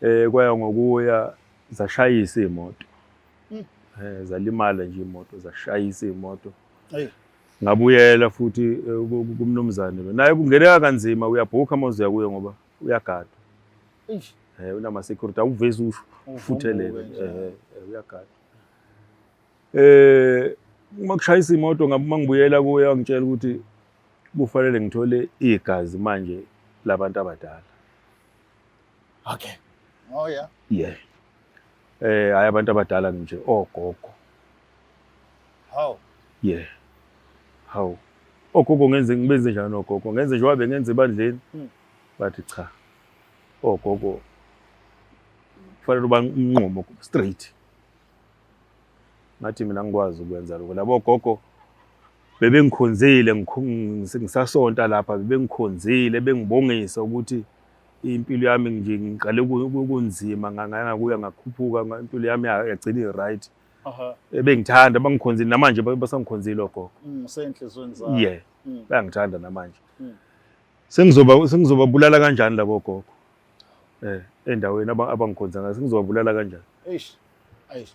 Eh kwaya ngokuya zashayisa imoto. Mm. Eh zalimala nje imoto zashayisa imoto. Ayi. Ngabuyela futhi eh, kumnumzane lo. Naye kungeneka kanzima uyabhuka uma uzoya kuye ngoba uyagadwa. Eish. Eh unama security awuvezi usho ufuthelele. Eh, eh uyagadwa. Eh uma kushayisa imoto ngabe uma ngibuyela kuye angitshela ukuthi kufanele ngithole igazi manje labantu abadala Okay. Oh yeah. Yeah. Eh hayi abantu abadala nje ogogo. How? Yeah. How? Ogogo ngenze ngibenze njani ogogo? Ngenze nje wabe ngenze ebandleni. Hmm. Bathi cha. Ogogo kufanele uba unqumo straight. Ngathi mina ngikwazi ukwenza lokho. Labo gogo bebengikhonzile ngisasonta lapha bebengikhonzile bengibongisa ukuthi impilo yami nje ngiqale kunzima ngangana kuya ngakhuphuka impilo yami yagcina i-right ebengithanda eh, bangikhonzile namanje basangikhonzile ogogo mm, ye mm. bayangithanda namanje mm. sengizoba sengizobabulala kanjani labo gogo eh endaweni abangikhonza ngayo sengizobabulala kanjani eish eish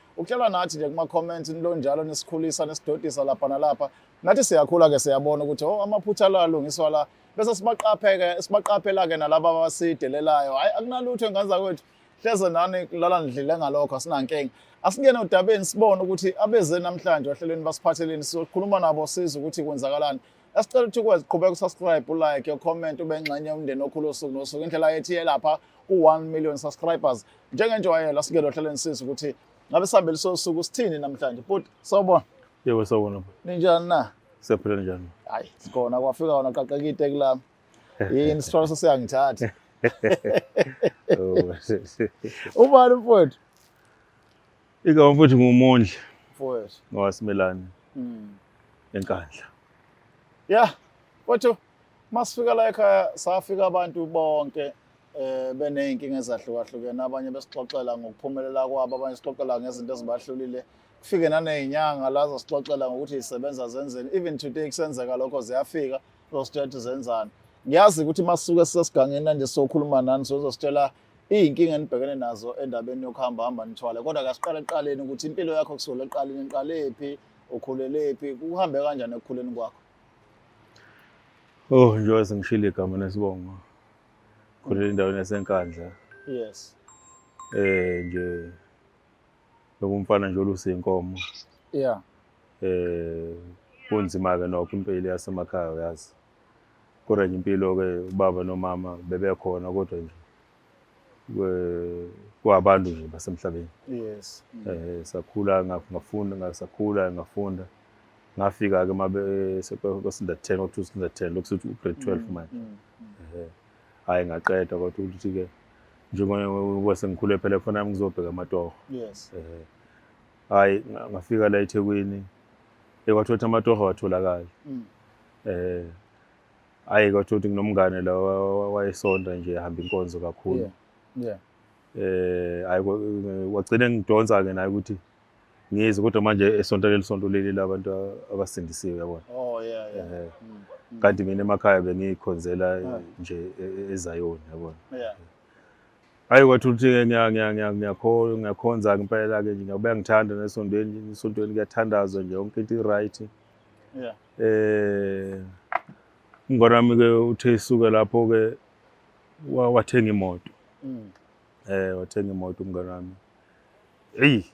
Ukuhlala nathi nje kuma comments into njalo nisikhulisa nesidodisa lapha nalapha. Nathi siyakhula ke siyabona ukuthi oh amaphutha la lungiswa la. Bese sibaqapheke sibaqaphela ke nalabo abasidelelayo. Hayi akunalutho enganza kwethu. Hleze nani lala ndlile ngalokho asinankinga. Asingene odabeni sibone ukuthi abeze namhlanje ohlelweni basiphatheleni sizokhuluma nabo siza ukuthi kwenzakalani. Asicela ukuthi ukwazi qhubeka usubscribe, ulike, ucomment, ube ngxenye yomndeni okhulu osuku nosuku. Indlela yethu yelapha ku-1 million subscribers. Njengenjwayelo asingelo hleleni sisi ukuthi ngabe sihambele sosuku sithini namhlanje. But sawubona. Yebo sawubona. Ninjani na? Siyaphila njani? Hayi, sikhona kwafika wona qaqeka iteki lami. Yini sithwala sesiyangithatha. Oh, Ubani mfowethu? Ika mfowethu ngumondli. Mfowethu. Ngowasimelane. Mm. Enkandla. Yeah. Mfowethu masifika la ekhaya safika abantu bonke eh beneyinkinga ezahlukahlukene abanye besixoxela ngokuphumelela kwabo abanye sixoxela ngezinto ezibahlulile kufike nanezinyanga lazo sixoxela ngokuthi isebenza zenzeni even today kusenzeka lokho ziyafika zosithethe zenzani ngiyazi ukuthi masuke sisesigangeni manje sokhuluma nani sozositshela Iy'nkinga enibhekene nazo endabeni yokuhamba hamba nithwale kodwa kasiqale ekuqaleni ukuthi impilo yakho kusukela ekuqaleni niqalephi ukhulelephi kuhambe kanjani ekukhuleni kwakho oh njengoba sengishilo igama nesibongo khulele endaweni yasenkandla yes eh nje lokumfana nje olusinkomo yeah eh kunzima-ke nokho impilo yasemakhaya uyazi kodwa nje impilo-ke ubaba nomama bebekhona kodwa nje kwabantu nje basemhlabeni yes eh sakhula ngafunda ngasakhula ngafunda ngafika ke mabe kwasinda 10 or 2 sinda 10 lokuthi u grade 12 mm, manje mm, mm. eh hayi ngaqeda kodwa ukuthi ke njengoba sengikhule phela khona ngizobheka amatoho yes eh hayi ngafika la eThekwini ekwathola amatoho watholakala eh ayi kodwa ukuthi nginomngane la wayesonta nje ehamba inkonzo kakhulu yeah yeah eh ayi wagcina ngidonsa ke naye ukuthi ngize kodwa manje esonto leli sonto leli labantu abasindisiwe yabona oh yeah yeah eh, mm, mm. kanti mina emakhaya bengikhonzela ah. nje e, e, ezayoni yabona yeah ayi wathi uthi ngiyakholwa ngiyakhonza ngempela ke nje ngiyabeka ngithanda nesontweni isontweni kuyathandazwa nje yonke into i-right yeah. eh ingane yami ke uthe isuke lapho ke wathenga imoto mm. eh wathenga imoto umngane wami eyi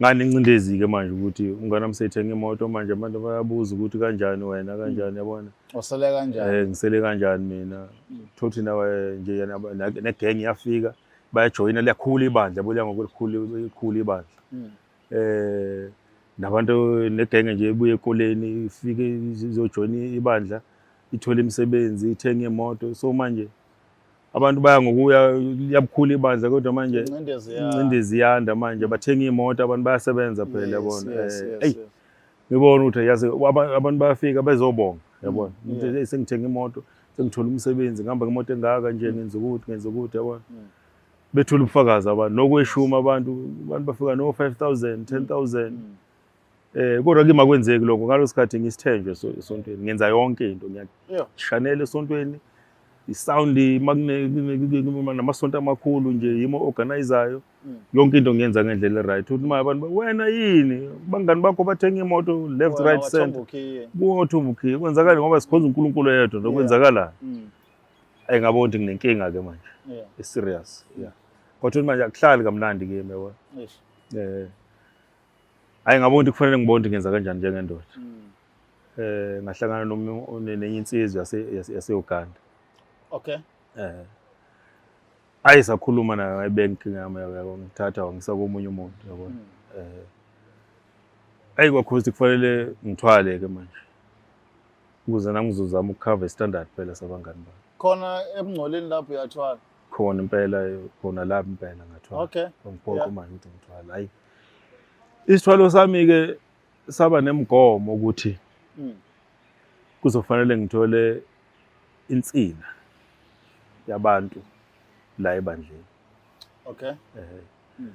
ngani incindezi ke manje ukuthi umngane wami sethenga imoto manje abantu bayabuza ukuthi kanjani wena mm. kanjani yabona usele kanjani eh ngisele kanjani mina mm. thothi nawe nje yana ne gang yafika bayajoyina liyakhula ibandla buya ngokukhulu ikhulu ibandla eh nabantu negenge nje ebuye ekoleni ifike izojoyina ibandla ithole imisebenzi ithenge imoto so manje abantu baya ngokuya liyabukhula ibandla kodwa manje incindezi yanda manje bathenga imoto abantu bayasebenza phela yabona hey eh, ngibona ukuthi yazi abantu bayafika bezobonga yabona mm, umuntu hey sengithenga imoto sengithola umsebenzi ngihamba ngemoto engaka nje mm. ngenza ukuthi ngenza ukuthi yabona mm. bethula ubufakazi abantu nokweshuma abantu abantu bafika no 5000 10000 eh kodwa ke makwenzeki lokho ngalosikhathi ngisithenjwe esontweni ngenza yonke into ngiyashanela esontweni isound makune namasonto amakhulu nje yimo organizayo mm. yonke into ngiyenza ngendlela right uthi manje abantu wena yini bangani bakho bathenga imoto left right center kuthi umukhiye kwenzakala ngoba sikhonza uNkulunkulu yedwa lokwenzakala mm. Ayi ngabona ukuthi nginenkinga ke manje. Yeah. I serious. Yeah. Kodwa manje akuhlali kamnandi ke yebo. Yes. Eh. Ayi ngabona ukuthi kufanele ngibone ukuthi ngenza kanjani njengendoda. Mm. Eh ngahlangana nomunye nenye insizwa yase yase Uganda. Okay. Eh. Ayi sakhuluma nayo ngayibeka ngama yabo ngithatha wangisa komunye umuntu yabo. Mm. Eh. Ayi kwakhozi kufanele ngithwale ke manje. Ukuze nami ngizozama ukukhava istandard phela sabangani bami. Khona ebungcoleni lapho uyathwala. Khona impela khona lapho impela ngathwala. Okay. Ngiphoqa uma ngithi ngithwala. Hayi. Isithwalo sami ke saba nemigomo ukuthi hmm. kuzofanele ngithole insina yabantu la ebandleni. Okay. Eh. Hmm.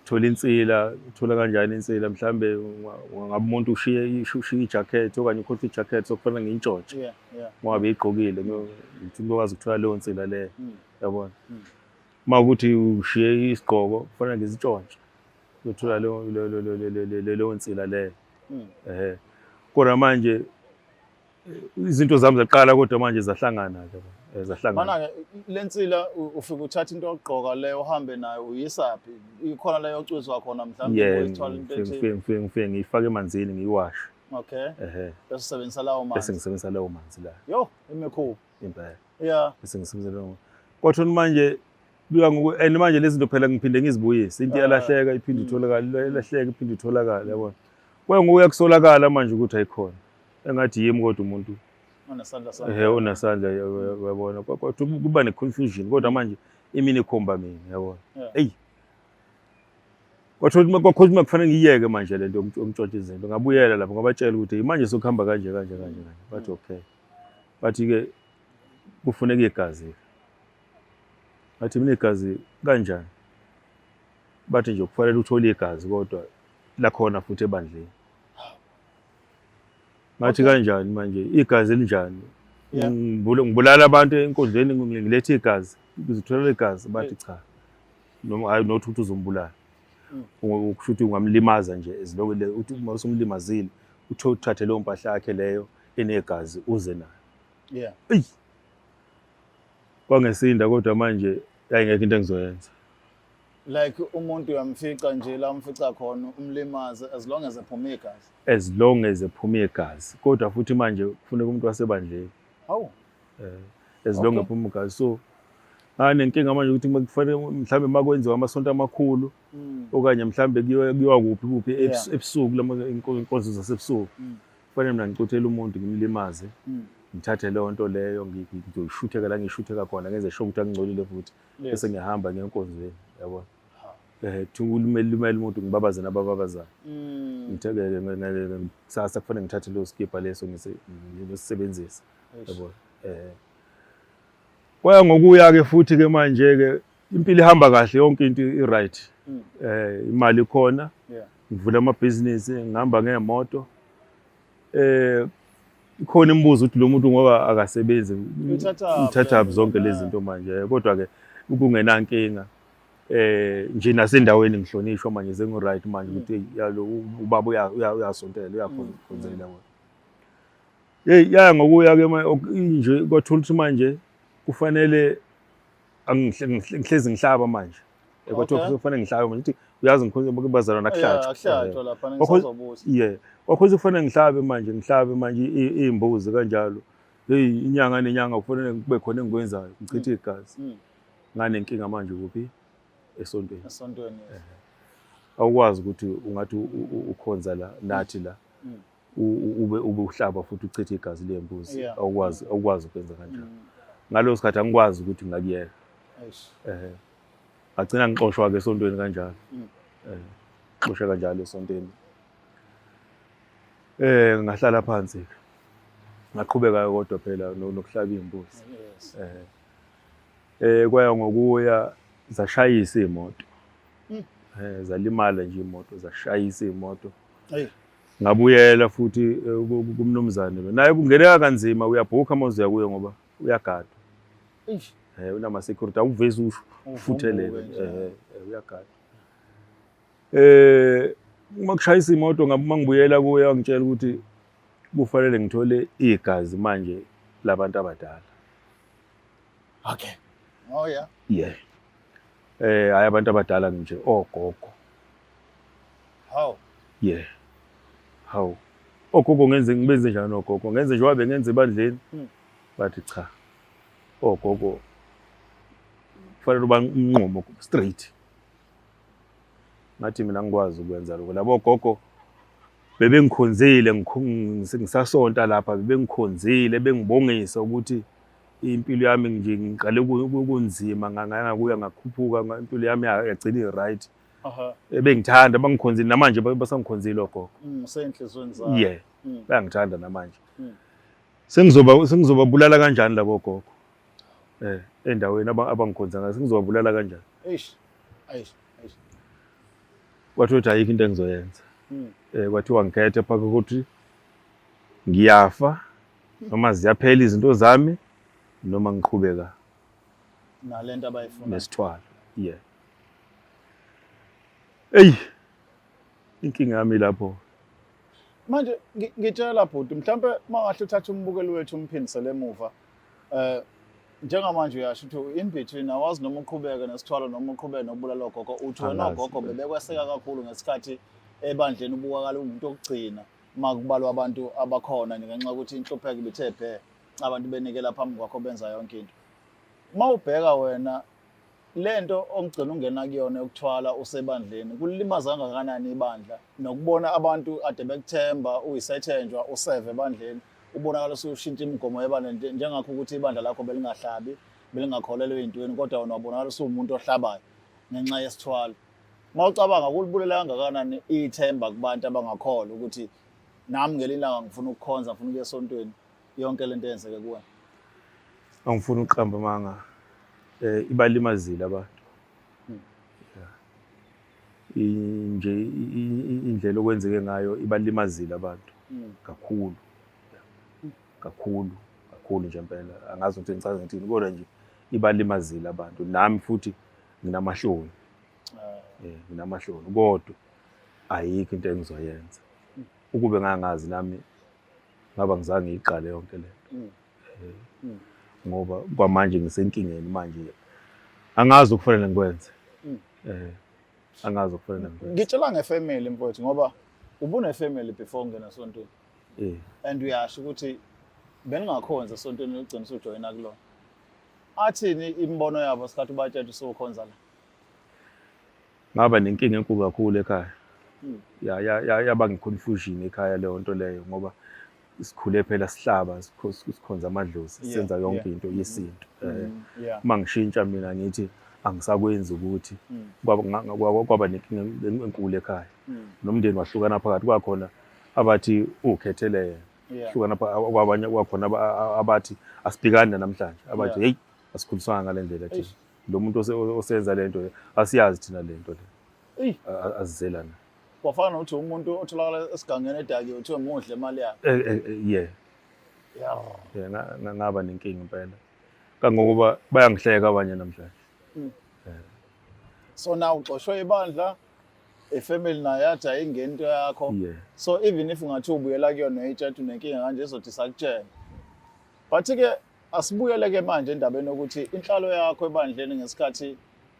Thola insila, uthola kanjani insila? Mhlambe ngabe umuntu ushiye ushiye ijacket okanye ukhotha ijacket sokufana ngintshontshe. Yeah, yeah. Ngoba igqokile, ngithi ngokwazi ukuthola leyo nsila leyo. Hmm. Yabona? Hmm. Uma ukuthi ushiye isigqoko, kufanele ngizintshontshe. Ngithola leyo leyo leyo nsila leyo. Ehe. Kodwa manje izinto zami zaqala kodwa manje zahlangana ke eh, zahlangana mana-ke lensila ufike uthatha into yokugqoka leyo uhambe nayo uyisaphi ikhona leyo ocwizwa khona mhlawumbe ngifike ngiyifake emanzini ngiyiwashe okay ehe bese usebenzisa lawo manzi bese ngisebenzisa lawo manzi la yo imikhulu impela yeah bese ngisebenzisa lawo kodwa manje bika ngoku and manje lezi zinto phela ngiphinde ngizibuyise into ah. yalahleka iphinde mm. itholakala ilahleka iphinde itholakala yabona kwengukuya kusolakala manje ukuthi ayikhona engathi yimi kodwa umuntu ehe unasandla uyabona kodwa kuba ne-confusion kodwa manje imini ikhomba mina yabona eyi kwathotha kwakhotha uma kufanele ngiyeke manje le nto yomtshontsha izinto ngabuyela lapho ngabatshela ukuthi manje sokuhamba kanje kanje kanje kanje bathi mm. okay bathi-ke kufuneka igazi bathi mina igazi kanjani bathi nje kufanele uthole igazi kodwa lakhona futhi ebandleni ngathi okay. kanjani manje igazi elinjani yeah. ngibulala abantu enkundleni ngilethe igazi ngizitholela igazi bathi cha noma hayi not ukuthi uzombulala mm. kusho ukuthi ungamlimaza nje as long as uthi uma usumlimazile uthe uthathe leyo mpahla yakhe leyo enegazi uze nayo yeah eyi kwangesinda kodwa manje ayingekho into engizoyenza like umuntu uyamfica nje la umfica khona umlimaze as long as ephuma igazi as long as ephuma igazi kodwa futhi manje kufuneka umuntu wasebandleni hawu eh as long as ephuma igazi so hayi nenkinga manje ukuthi kufanele mhlambe makwenziwa amasonto amakhulu mm. okanye mhlambe kuyiwa kuphi kuphi ebusuku lama inkonzo zasebusuku mm. kufanele mina ngicuthele umuntu ngimlimaze mm. ngithathe leyo nto leyo ngizoyishutheka la ngishutheka khona ngenze sho ukuthi angingcolile futhi bese ngiyahamba ngenkonzweni yabo eh thungulumele lumele umuntu ngibabaze nabababazayo mm. ngithekeke ngeke kusasa kufanele ngithathe lo skipper leso ngisebenzise yabo eh kwaya ngokuya ke futhi ke manje ke impilo ihamba kahle yonke into i right mm. eh imali khona ngivula amabhizinisi ngihamba ngemoto eh khona imibuzo ukuthi lo muntu ngoba akasebenzi uthatha zonke lezi zinto manje kodwa ke ukungenankinga eh nje nasendaweni ngihlonishwa manje sengu right manje ukuthi yalo ubaba uyasontela uyakhonzela ngoba hey ya ngokuya ke nje kwathola ukuthi manje kufanele angihlezi ngihlaba manje kwathiwa okay. kufanele ngihlabe manje ukuthi uyazi ngikhona bazalwana kuhlatshwa yeah kwakhona kufanele ngihlabe manje ngihlabe manje iy'mbuzi kanjalo heyi inyanga nenyanga kufanele kube khona engikwenzayo ngichithe mm. igazi mm. nganenkinga manje kuphi esontweni esontweni awukwazi ukuthi ungathi ukhonza la nathi la mm. ube ube uhlaba futhi uchithe igazi lembuzi yeah. awukwazi awukwazi ukwenza kanjalo mm. ngaleso sikhathi angikwazi ukuthi ngakuyeka eh agcina ngixoshwa ke esontweni kanjalo mm. eh xosha kanjalo esontweni eh ngahlala phansi ngaqhubeka kodwa phela nokuhlaba imbuzi eh eh kwaya ngokuya zashayisa imoto mm. eh zalimala nje imoto zashayisa imoto Ngabuyela futhi eh, kumnumzane lo. Naye kungeneka kanzima uyabhukha uma uzoya kuye ngoba uyagadwa. Eish. Eh unama security awuvezi usho ufuthelele. Eh, eh uyagadwa. Eh uma kushayisa imoto ngabuma ngibuyela kuye wangitshela ukuthi kufanele ngithole igazi manje labantu abadala. Okay. Oh yeah. Yeah. Eh hayi abantu abadala nje ogogo. Hawu. Yeah. Hawu. Ogogo ngenze ngibenze njani ogogo? Ngenze njengoba bengenza ebandleni. Hmm. Bathi cha. Ogogo kufanele uba umnqumo straight. Ngathi mina ngikwazi ukwenza lokho. Labo gogo bebengikhonzile ngisasonta lapha bebengikhonzile bengibongisa ukuthi impilo yami nje ngiqale kunzima ngangakuya ngakhuphuka impilo yami yagcina i-right. Right. bengithanda bangikhonzile namanje basangikhonzile ogogo mm, usenhlizweni zabo yeah mm. bayangithanda namanje mm. sengizoba sengizobabulala kanjani labo gogo eh endaweni abangikhonza ngayo sengizobabulala kanjani eish eish eish kwathiwa ukuthi ayikho into engizoyenza eh kwathiwa ngikhethe phaka ukuthi ngiyafa noma ziyaphela izinto zami noma ngiqhubeka nalento abayifuna nesithwalo yeah eyi inkinga yami lapho manje ngitshela bhuti mhlawumbe mangahle uthathe umbukeli wethu umphindisele emuva eh njengamanje uyasho ukuthi in between awazi noma uqhubeke nesithwalo noma uqhubeke nokubulala ogogo uthi wena ogogo bebekweseka kakhulu ngesikhathi ebandleni ubukakala umuntu okugcina makubalwa abantu abakhona ngenxa yokuthi inhlupheko ibithe bhe abantu benikela phambi kwakho benza yonke into uma ubheka wena le nto ongigcina ungena kuyona yokuthwala usebandleni kulimaza kangakanani ibandla nokubona abantu ade bekuthemba uyisethenjwa useve ebandleni ubonakala usushintsha imigomo yebandla njengakho ukuthi ibandla lakho belingahlabi belingakholelwe ey'ntweni kodwa wena wabonakala usuwumuntu ohlabayo ngenxa yesithwalo uma ucabanga kulibulela kangakanani ithemba kubantu abangakholwa ukuthi nami ngelinye ilanga ngifuna ukukhonza ngifuna ukuya esontweni yonke lento eyenzeke kuwe angifuni ukuqamba manga eh ibalimazile abantu hmm. nje indlela okwenzeke ngayo ibalimazile abantu hmm. kakhulu kakhulu kakhulu nje impela angazi ukuthi ngicaza ngithini kodwa nje ibalimazile abantu nami futhi nginamahloni ah. eh nginamahloni kodwa ayikho into engizoyenza hmm. ukube ngangazi nami ngaba ngizange ngiyiqale yonke le nto mm. eh, mm. ngoba kwamanje ngisenkingeni manje angazi ukufanele ngikwenze mm. eh angazi ukufanele ngikwenze ngitshela ngefamily mfowethu ngoba ubunefamily before ngena sontweni eh and uyasho ukuthi beningakhonza sontweni logcina usujoyina kulona athini imibono yabo sikhathi ubatshela usukhonza la ngaba nenkinga enkulu kakhulu ekhaya hmm. ya ya ya yaba ngiconfusion ekhaya leyo nto leyo ngoba sikhule phela sihlaba sikhonza amadlozi senza yonke into yesintu eh, uma ngishintsha mina ngithi angisakwenzi ukuthi hmm. kwaba nenkinga enkulu ekhaya hmm. nomndeni wahlukana phakathi kwakhona abathi ukhethelele yena hlukana kwabanye kwakhona abathi asibhekani namhlanje abathi hey asikhuliswanga ngale ndlela thina lo muntu osenza lento asiyazi thina lento le eyi azizelana kwafana nokuthi umuntu otholakala esigangeni edakiwe kuthiwe muhle imali yakhe eh, eh, eh, ye ye ngaba nenkinga impela kangokuba bayangihleka abanye namhlanje hmm. so na uxoshwe ibandla ifamily nayo yathi ayingeni into yakho so even if ungathi ubuyela kuyona itshathi unenkinga kanje izothi sakutshela but-ke Asibuyele ke manje endabeni yokuthi inhlalo yakho ebandleni ngesikhathi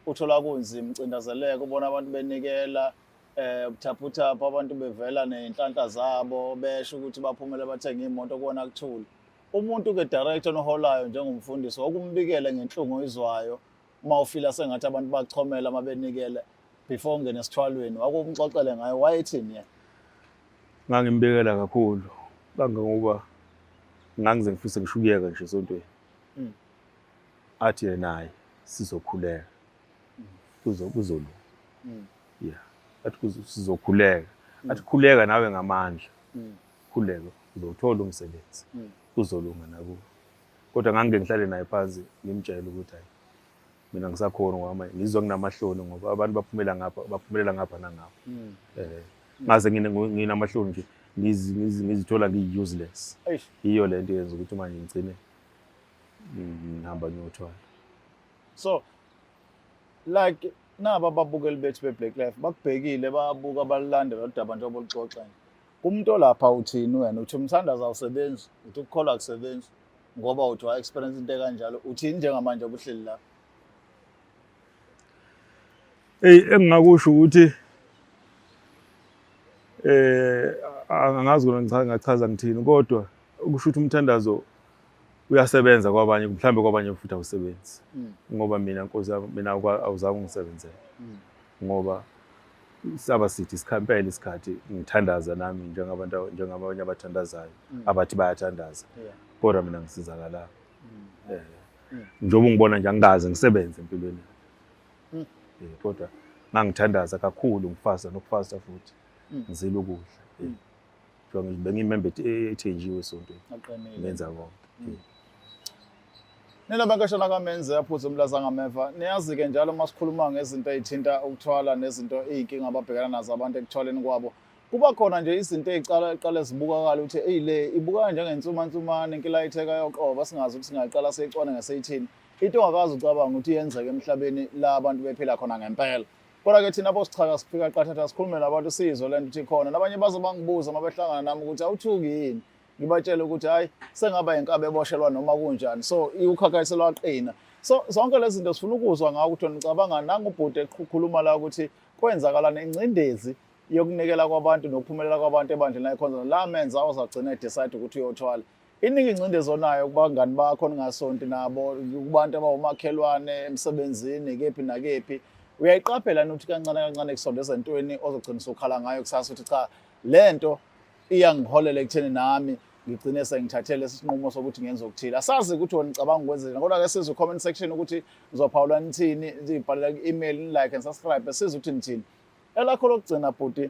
uthola kunzima ucindazeleka ubona abantu benikela eh ubuthaphuthaphwa abantu bevela nezinhlanhla zabo besho ukuthi baphumele bathenga imoto kuwona kuthule umuntu ke director noholayo njengomfundisi wakumbikele ngenhlungu izwayo uma ufila sengathi abantu bachomela uma benikele before ungene esithwalweni wakumxoxele ngayo wayethini yena ngangimbekela kakhulu kangangoba ngangize ngifise ngisho ukuyeka nje esontweni hmm. athi yena naye sizokhuleka hmm. kuzolu hmm. ya athi sizokhuleka athi khuleka nawe ngamandla khuleka uzowuthola umsebenzi kuzolunga nakuwe kodwa ngangike ngihlale naye phansi ngimtshele ukuthi hayi mina ngisakhona ngoba manje ngizwa nginamahloni ngoba abantu baphumela ngapha baphumelela ngapha nangapha mm. eh ngaze nginamahloni nje ngizithola ngiyi-useless yiyo le nto yenza ukuthi manje ngigcine ngihamba ngiyothwala so like naba ababukeli bethu be-black life bakubhekile babuka balandela udaba njengoba luxoxa Umuntu olapha uthini wena? Uthi umthandazo awusebenzi, uthi ukukholwa akusebenzi ngoba uthi wa-experience into ekanjalo. Uthini njengamanje obuhleli lapha? Eyi engingakusho ukuthi eh angazi kona ngichaza ngachaza ngithini kodwa ukusho ukuthi umthandazo uyasebenza kwabanye mhlawumbe kwabanye futhi awusebenzi mm. ngoba mina nkosi yami mina awuzange ungisebenzele mm. ngoba saba sithi sikhampela isikhathi ngithandaza nami njengabantu njengabanye abathandazayo mm. abathi bayathandaza kodwa mina ngisizakalanga eh. njengoba ngibona nje angikaze ngisebenze empilweni eh, kodwa ngangithandaza kakhulu ngifasa nokufasa futhi ngizile ukudla eh. Ngoba ngithi bengiyimembe e- ethenjiwe esontweni. Aqinile. Ngenza konke. Nina bankashana kamenze aphuze umlaza ngameva niyazi-ke njalo uma sikhuluma ngezinto ey'thinta ukuthwala nezinto iy'nkinga ababhekana nazo abantu ekuthwaleni kwabo kuba khona nje izinto ey'qala eqale zibukakala ukuthi eyi le ibukeka njengensumansumane inkilayitheka yoqoba singazi ukuthi singaqala seyicwane ngeseyithini into ongakazi ucabanga ukuthi yenzeka emhlabeni la abantu bephila khona ngempela Kodwa ke thina bosichaka sifika qathatha sikhulume nabantu sizwe lento ukuthi khona nabanye baze bangibuza uma behlangana nami ukuthi awuthuki yini ngibatshele ukuthi hayi sengaba inkabe eboshelwa noma kunjani so iwukhakhayiso lwaqina so zonke lezi zinto sifuna ukuzwa ngawo ukuthi nicabanga nangubhuti ekhuluma la ukuthi kwenzakalana ingcindezi yokunikela kwabantu nokuphumelela kwabantu ebandleni layikhonza la menza ozagcina edecide ukuthi uyothwala Iningi ingcindezi onayo kubangani bakho ningasonti nabo kubantu abawumakhelwane emsebenzini kephi nakephi uyayiqaphela ukuthi kancane kancane kusondeza entweni ozogcina usukhala ngayo kusasa ukuthi cha le nto iyangiholela ekutheni nami ngigcine sengithathele isinqumo sokuthi ngenze okuthile asazi ukuthi wena nicabanga ukwenzeni kodwa ke sizwe comment section ukuthi ngizophawula nithini ngibhalela ku-email ni-like and subscribe size ukuthi nithini elakho lokugcina bhuti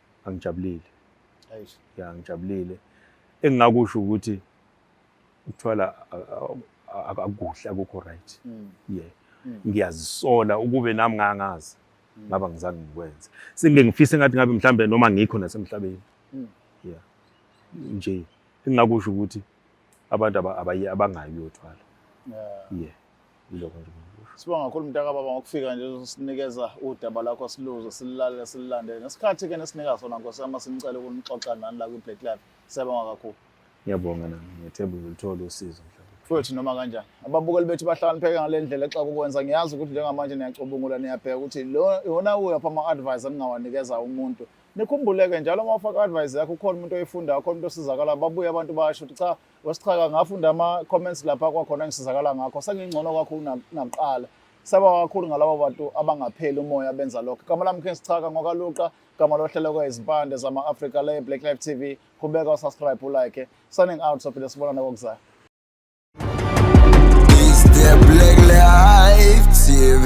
angijabulile Eish. ya ngijabulile engingakusho ukuthi ukuthwala a- a- a- akukuhle akukho right Mm. yeah Mm. ngiyazisola ukube nami ngangazi Mm. ngaba ngizange ngikwenze sengike ngifise ngathi ngabe mhlambe noma ngikho nasemhlabeni Mm. yeah nje engingakusho ukuthi abantu aba- abaye abangayi uyothwala Yeah. yeah Yiloko nje engikusho. Sibonga kakhulu mntaka baba ngokufika nje uzosinikeza udaba lakho siluze silale silandele. Nesikhathi ke nesinika sona Nkosi yami sinicela ukunixoxa nani la kwiBlack Life. Siyabonga kakhulu. Ngiyabonga nami ngethemba uzoluthola usizo mhlawumbe. Futhi noma kanjani ababukeli bethu bahlakanipheke ngale ndlela xa kukwenza ngiyazi ukuthi njengamanje niyacubungula niyabheka ukuthi lo yona uyaphi ama-advice eningawanikeza umuntu nikhumbuleke njalo uma ufaka advice yakho ukhona umuntu oyifundayo khona umuntu osizakalayo babuye abantu basho ukuthi cha wesichaka ngafunda ama-comments lapha kwakhona ngisizakala ngakho sengingcono kakhulu nakuqala saba kakhulu ngalabo bantu abangapheli umoya benza lokho gama lami khensi chaka ngokaluqa gama lohleleko izimpande zama-afrika le black life tv qhubeka usubscribe ulike signing out sophinde sibonana kokuzayo TV.